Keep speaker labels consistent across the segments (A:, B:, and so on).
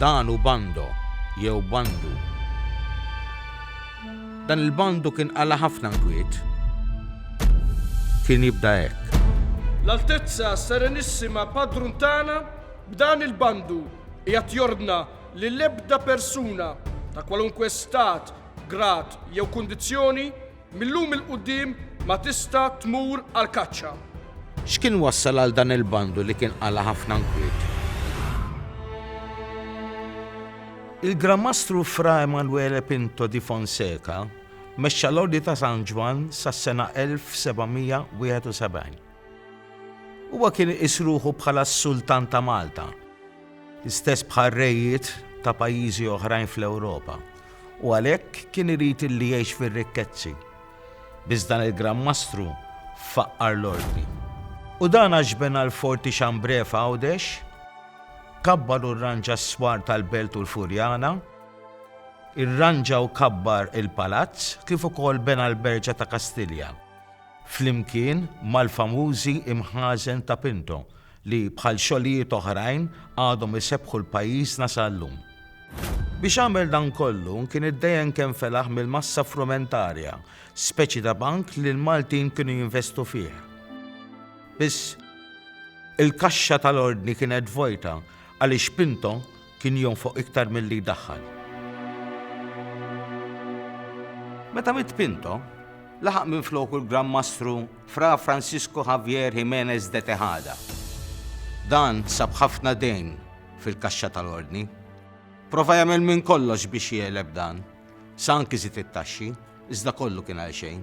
A: Dan hu Bando, jew Bandu. Dan il-Bandu kien qala' ħafna nkwiet. Kien jibda hekk. L-Altezza
B: Serenissima Padrun tagħna b'dan il-Bandu qiegħed jordna li l-ebda persuna, ta' kwalunkwe stat, grad jew kundizzjoni, Mil-lum 'il quddiem ma tista' tmur għall-kaċċa. X'kien
A: wassal għal dan il-bandu li kien qala' ħafna nkwiet? Il-Gran Mastru Fra Emanuele Pinto di Fonseca mexxa l-Ordni ta' San Ġwann sas-sena 1771. Huwa kien iqis ruħu bħala s-Sultan ta' Malta. l-istess bħar-rejiet ta' pajjiżi oħrajn fl-Ewropa, u għalhekk kien irid li jgħix fir-rikkezzi. Biss dan il-Gran Mastru faqqar l-Ordni. U dan għax bena l-Forti Chambré f'Għawdex, kabbar u rranġa s-swar tal-Belt u l-Furjana, irranġa u kabbar il-Palazz kif ukoll bena l-Berġa ta' Kastilja, flimkien mal-famużi imħażen ta' Pinto, li bħal xogħlijiet oħrajn għadhom isebbħu 'l pajjiżna sa llum. Biex għamel dan kollu kien iddejen kemm felaħ mill-massa frumentarja, speċi ta' bank li l-Maltin kienu jinvestu fih. Biss, il-kaxxa tal-Ordni kienet vojta għaliex Pinto Kien jonfoq iktar milli jdaħħal. Meta miet Pinto, laħaq minfloku l-Gran Mastru Fra Francisco Javier Jimenez de Tejada. Dan sab ħafna dejn fil-kaxxa tal-Ordni. Prova jagħmel minn kollox biex jegħleb dan, sa anki żied it-taxxi, iżda kollu kien għalxejn.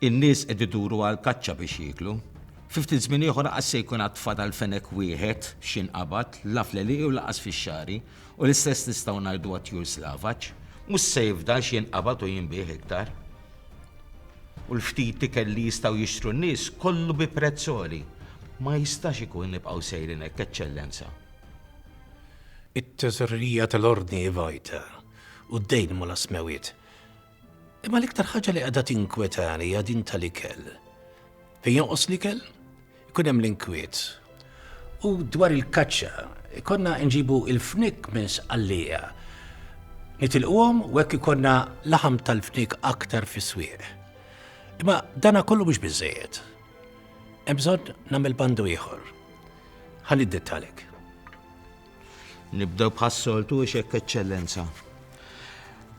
C: In-nies
A: qed iduru għall-kaċċa biex jieklu. Fi ftit żmien ieħor għad se jkun għad fadal fenek wieħed f'xi nqabad, la fl-għelieqi u lanqas fix-xagħri, u l-istess nistgħu ngħidu għat-tjur slavaġ. Mhux se jifdal x'jinqabad u jinbiegħ iktar. U l-ftit ikel li jistgħu jixtru n-nies, kollu bi prezz għoli. Ma jistax ikun nibqgħu sejrin hekk, Eċċellenza.
C: It-Teżorerija tal-Ordni Vitae u d-dejn ma' l-Asmewit Imma l-iktar ħaġa li qiegħda tinkwetani hija din tal-ikel. Fejn jonqos l-ikel, ikun hemm l-inkwiet. U dwar il-kaċċa, konna nġibu il-fnik minn sqallija. Nitilquhom u hekk ikonna laħam tal-fnik aktar fis-swieq. Imma dana kollu mhux biżejjed. Hemm bżonn nagħmel bandu ieħor. Ħalli dettalek. Nibdew
A: bħas-soltu ix hekk Eċċellenza.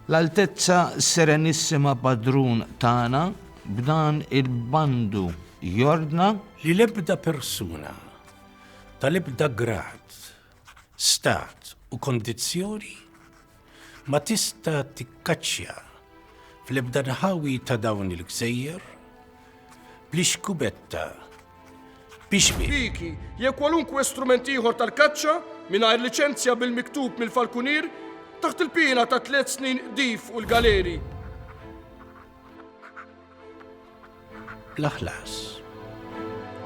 A: L-Altezza Serenissima Padrun tagħna b'dan il-bandu jordna li l-ebda
C: persuna tal-ebda grad, stat u kondizzjoni Ma tista' tikkaċċja fl-ebda nħawi ta' dawn il-gżejjer bl-ixkubetta bixbi. Piki,
B: jew kwalunkwe strument ieħor tal-kaċċa mingħajr liċenzja bil-miktub mill-falkunier taħt il-piena ta' tliet snin qdif u l-galeri.
C: l-aħlas.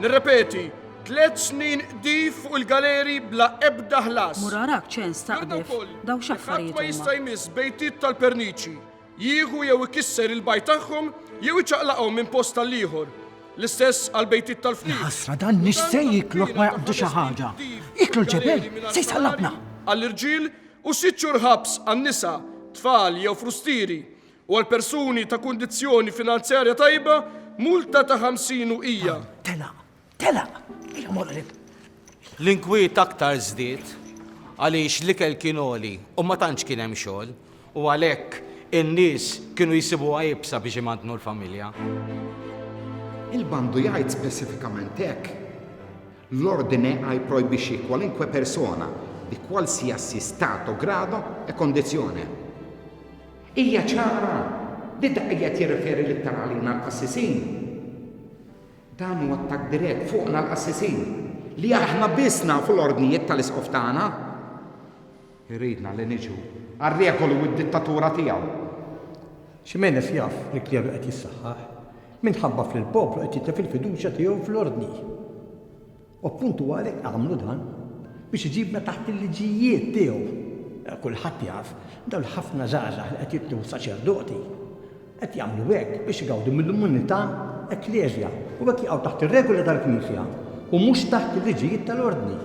B: Nirrepeti, tliet snin qdif fuq il-galeri bla ebda ħlas. Murarak ċens taqdef,
D: daw xaffarijiet. Ma jista' jmiss
B: bejtiet tal-perniċi, jieħu jew ikisser il-bajt tagħhom jew iċaqlaqhom minn post tal-ieħor. L-istess għal bejtiet tal-fniet. Ħasra dan nix se
E: jiklu ma jaqbdu xi ħaġa. Jiklu l-ġebel se jsallabna.
B: Għall-irġiel u sitt xhur ħabs għan-nisa, tfal jew frustieri u għal persuni ta' kundizzjoni finanzjarja tajba multa ta' 50 uqija. Telaq, telaq,
E: il-moqrib. L-inkwiet
A: aktar żdied għaliex l-ikel kien għoli u ma tantx kien hemm xogħol u għalhekk in-nies kienu jsibuha iebsa biex imantnu l-familja. Il-bandu
F: jgħid speċifikament hekk, L-Ordine I projbixxi kwalunkwe persona, di qualsiasi stato, grado e condizione, Hija ċara li dak li qed jirreferi l-iktar għalina l-qassisin. Dan hu attakk dirett fuqna l-qassisin li aħna biss nafu l-ordnijiet tal-Isqof tagħna. Iridna li niġu għar-regoli u d-dittatura tiegħu.
G: Ximenez jaf li l-kleru qed jissaħħaħ minħabba f'li l-poplu qed jitlef il-fiduċja tiegħu fl-Ordni. U appuntu għalhekk għamlu dan, biex iġibna taħt il-liġijiet tiegħu. Kulħadd jaf, dawn l-ħafna żgħażagħ li qed jitlu saċerdoti, qed jagħmlu hekk biex igawdu mill-immunità ekkleżja u hekk jaqgħu taħt ir-regoli tal-Knisja u mhux taħt il-liġijiet tal-Ordni.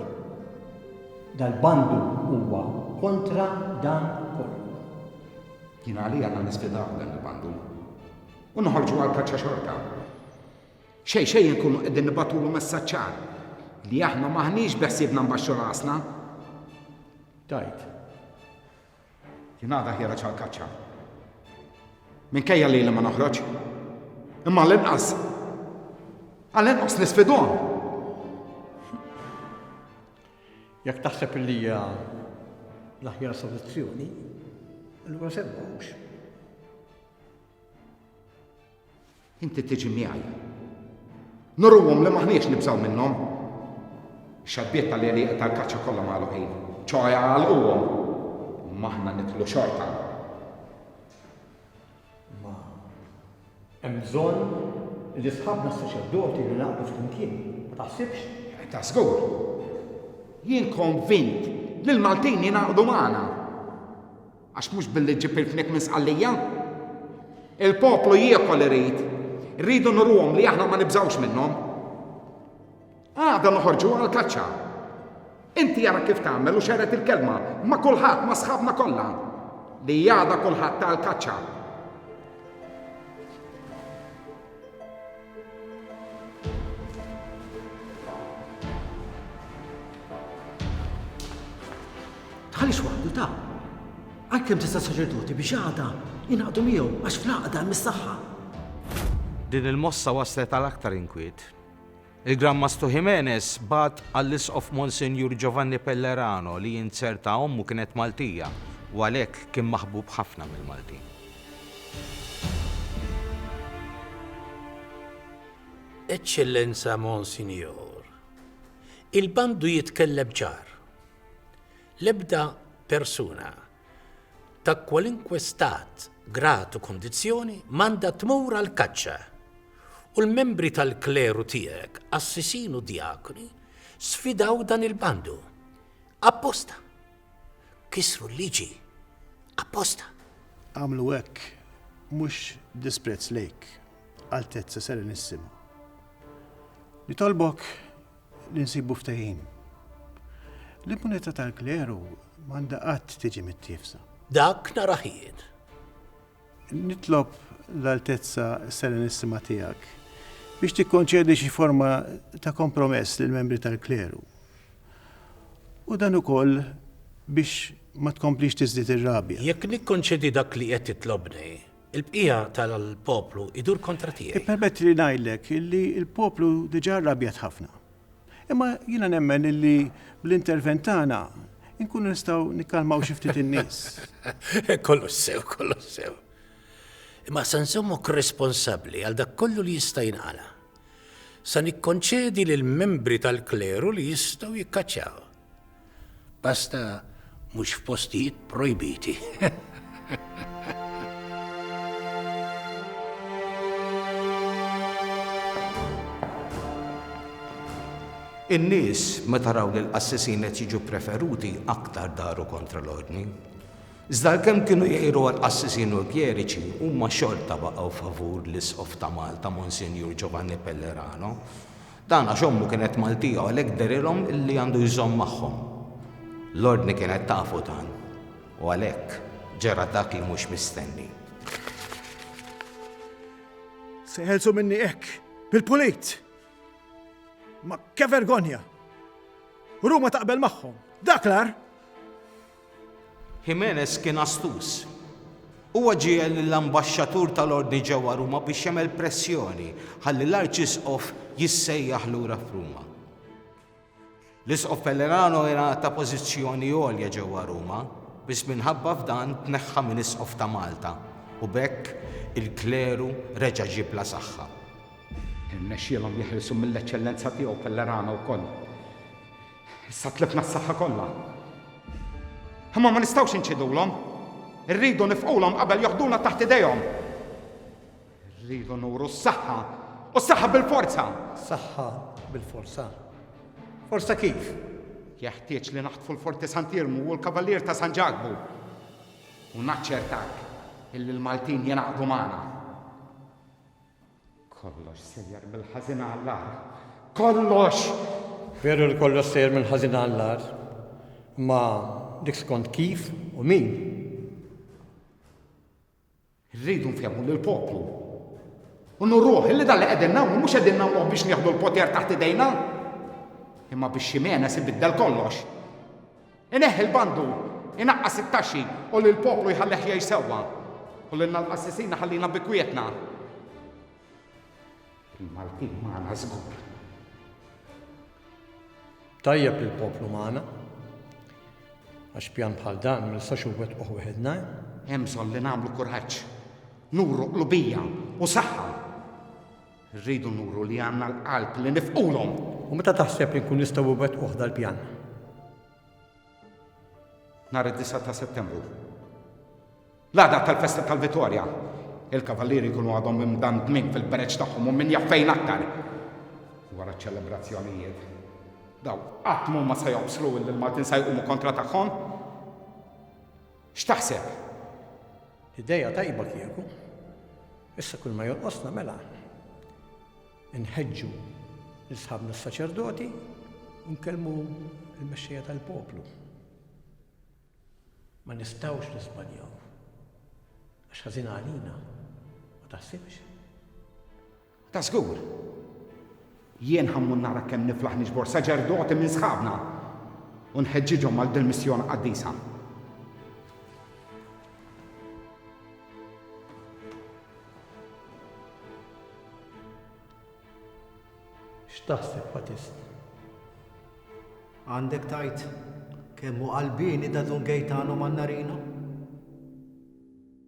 G: Dal-bandu huwa kontra dan kollu. Jien
F: għalija għandna nispidaw dan il-bandu u noħorġu għall-kaċċa xorta. Xejn xejn inkunu qegħdin nibagħtulu messaġġ ċar li aħna m'aħniex beħsiebna nbaxxu rasna.
G: Tgħid.
F: Jien għada ħjereġ għall-kaċċa. Minkejja li li ma noħroġ. Imma l-inqas. Għal-inqas nisfidhom.
G: Jekk taħseb li hija l-aħjar soluzzjoni, allura semmawx.
F: Inti tiġi miegħi. Nuruhom li maħniex nibżgħu minnhom. Ix-xaddiet tal-għelieqa tal-kaċċa kollha magħluqin, ċoħe jagħlquhom, imma aħna nidħlu xorta.
G: Imma hemm bżonn li sħabna s-saċerdoti li naqdu flimkien, ma taħsibx? Eh, ta' żgur.
F: Jien konvint li l-Maltin jingħaqdu magħna. Għax mhux billi ġġib il-fniek minn Sqallija. Il-poplu jiekol irid. Irridu nuruhom li aħna ma nibżgħux minnhom. Għada noħorġu għall-kaċċa. Inti ara kif tagħmel u xered il-kelma ma' kulħadd ma' sħabna kollha li għada kulħadd għall-kaċċa.
E: Tħallix waħdu ta' għalkemm tista' saċerdoti biex għada jinaqdu miegħu għax fl-għaqda mis-saħħa.
A: Din il-mossa waslet għal aktar inkwiet. Il-Gran Mastru Jimenez bagħat għall-Isqof Monsinjur Giovanni Pellerano li inzerta ommu kienet Maltija u għalhekk kien maħbub ħafna mill-Maltin.
C: Eċċellenza Monsinjur, il-bandu jitkellem ċar. L-ebda persuna ta' kwalunkwe stat, grad u kondizzjoni m'għandha tmur għall-kaċċa, u l-membri tal-kleru tiegħek, qassisin u djakni, sfidaw dan il-bandu. Apposta! Kisru l-liġi. Apposta! Għamlu
H: hekk, mhux b'disprezz lejk, Altezza Serenissima. Nitolbok li nsibu ftehim. L-immunità tal-kleru m'għandha qatt tiġi mittiefsa. Dak nhar
C: aħiet.
H: Nitlob l-Altezza Serenissima Tiegħek biex tikkonċedi xi forma ta' kompromess lill-membri tal-kleru. U dan ukoll biex ma tkomplix tiżdied ir-rabja. Jekk nikkonċedi
C: dak li qed titlobni, Il-bqija tal-poplu idur kontra tiegħi. Ippermetti li ngħidlek
H: li l-poplu diġà rrabjat ħafna. Imma jiena nemmen li bl-intervent tagħna nkunu nistgħu nikkalmaw xi ftit in-nies. Kollox
C: sew, kollox sew. Imma se nżommok responsabbli għal dak kollu li jista' jinqala. Sa nikkonċedi lil membri tal-kleru li jistgħu jikkaċċaw. Basta mhux f'postijiet projbiti.
A: In-nies meta raw li l-qassisin qed jiġu ppreferuti aktar daru kontra l-ordni. Iżda għalkemm kienu jgħiru għall-qassisin u l-kjeriċi, huma xorta baqgħu favur l-Isqof ta' Malta, Monsinjur Giovanni Pellerano, Dan għax ommu kienet Maltija u għalhekk dehrilhom li għandu jżomm magħhom. L-Ordni kienet tafu dan u għalhekk ġara dak li mhux mistenni.
H: Se jħelsu minni hekk, bil-pulit! Ma ke vergonja! Ruma taqbel magħhom, dak l-ar!
A: Jimenez kien astuż. Huwa ġiegħel lill-ambaxxatur tal-Ordni ġewwa Ruma biex jagħmel pressjoni ħalli l-Arċisqof jissejjaħ lura f'Ruma. L-Isqof Pellerano era ta' pożizzjoni għolja ġewwa Ruma, biss minħabba f'dan tneħħa minn Isqof ta' Malta u b'hekk il-kleru reġa' ġie bla saħħa. Irnexxielhom
F: jeħilsu mill-Eċċellenza tiegħu Pellerano wkoll. Issa tlifna s-saħħa kollha. Imma ma nistgħux inċidulhom. Irridu nifqulhom qabel joħduna taħt idejhom. Irridu nuru s-saħħa u s-saħħa bil-forza. Saħħa
G: bil-forza. Forza kif? Jeħtieġ
F: li naħtfu l-Forti Sant'Irmu u l-Kavalier ta' San Ġakbu. U naċċertak illi l-Maltin jenaqdu magħna. Kollox sejjer mill-ħażin għall-agħar. Kollox! Veru
G: li kollox sejjer mill-ħażin għall-agħar, imma dik skont kif u min.
F: Rridu nfehmu lill poplu. U nurruh li dan li qegħdin nagħmlu mhux qegħdin nagħmluh biex nieħdu l-poter taħt idejna, imma biex Ximenes ibiddel kollox. Ineħħi l-bandur, inaqqas it-taxxi u lill-poplu jħallih jgħix sewwa. U lilna l-qassisin iħallina bi kwietna. Il-Maltin magħna żgur.
G: Tajjeb li l-poplu magħna. Għax pjan bħal dan ma nistax inwettquh wieħedna. Hemm bżonn li
F: nagħmlu kuraġġ, nuru qlubija u saħħa. Irridu nuru li għandna l-qalb li nifqulhom! U meta taħseb li
G: nkunu nistgħu iwettquh dal-pjan?
F: Nhar id-disgħa ta' Settembru. L-għada tal-festa tal-Vittorja. Il-Kavallieri jkunu għadhom imdandmin fil-bereġ tagħhom u min jaf fejn aktar. Wara ċ-ċelebrazzjonijiet. Daw qatt m'huma se joqsru illi l-Maltin se jqumu kontra tagħhom. X'taħseb?
G: Idea tajba kieku. Issa kull ma jonqosna mela nħeġġu lil sħabna s-saċerdoti u nkellmu l-mexxejja tal-poplu. Ma nistgħux niżbaljaw. Għax ħażin għalina, ma taħsibx?
F: Ta' żgur. Jien ħa mmur nara kemm niflaħ niġbor saċerdoti minn sħabna u nħeġġiġhom għal dil-missjoni qaddisa.
G: X'taħseb Patist?
E: Għandek tajt kemm hu qalbieni da Dun Gejtano Mannarino?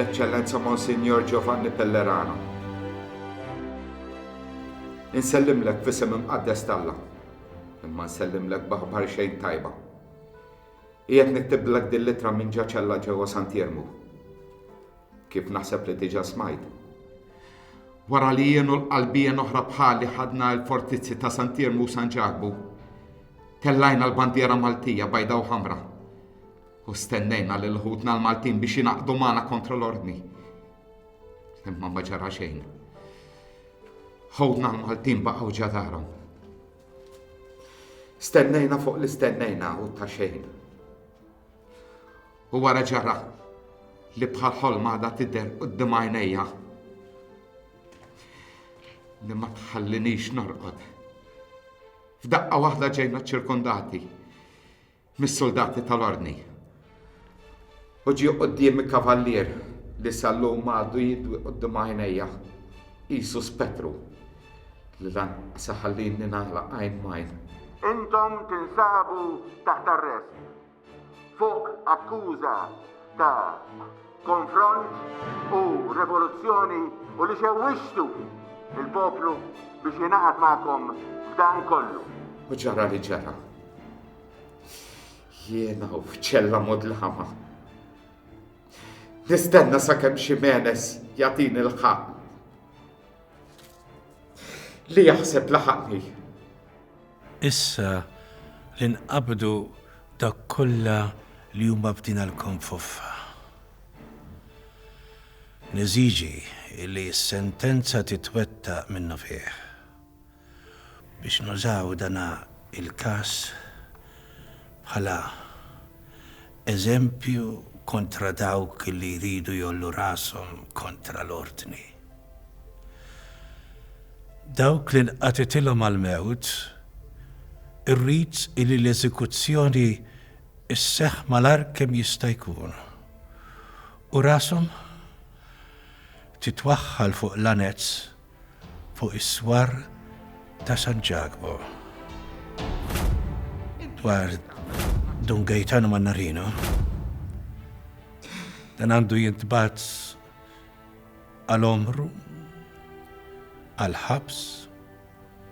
F: l-Eċċellenza Monsignor Giovanni Pellerano. Insellimlek f'isem imqaddes talla, imma nsellimlek baħbar xejn tajba. Qiegħed niktiblek din litra minn ġaċella ġewwa Santiermu. Kif naħseb li diġà smajt. Wara li jienu l-qalbien oħra bħali ħadna l-fortizzi ta' Santiermu u San Ġakbu, Tellajna l-bandiera Maltija bajda u ħamra u stennejna lil ħutna l-Maltin biex jinaqdu magħna kontra l-ordni. Imma ma ġara xejn. Ħutna l-Maltin baqgħu ġadarhom. Stennejna fuq li stennejna u ta' xejn. U wara ġara li bħal ħolma da tidher qudiem għajnejja. Li ma tħallinix norqod. F'daqqa waħda ġejna ċċirkondati mis-suldati tal-Ordni. U ġie quddiemi kavallier li sal-lum għadu jidwi quddiem għajnejja qisu spettru li lanqas iħallini nagħlaq għajn m'għajn. Intom
I: tinsabu taħt arrest. Fuq akkuża ta' konfront u revoluzzjoni u li xewwixtu l-poplu biex jingħaqad magħkom f'dan kollu. U ġara li
F: ġara. Jiena u f'ċella mudlama. Nistenna sakemm xi menes jagħtini l-ħaqq. Li jaħseb laħaqni.
C: Issa li nqabdu dak kollha li hu mabtina lkomm f'uffa, neżiġi li s-sentenza titwettaq minnufih. Biex nużaw dan il-każ bħala Eżempju kontra dawk li jridu jgħollu rashom kontra l-ordni. Dawk li nqatgħetilhom għall-mewt, irrid li l-eżekuzzjoni sseħħ malajr kemm jista' jkun u rashom titwaħħal fuq l-anezz fuq is-swar ta' San Ġakbu. Dwar Dun Gaetano Mannarino, dan għandu jintbat għal omru, għal ħabs,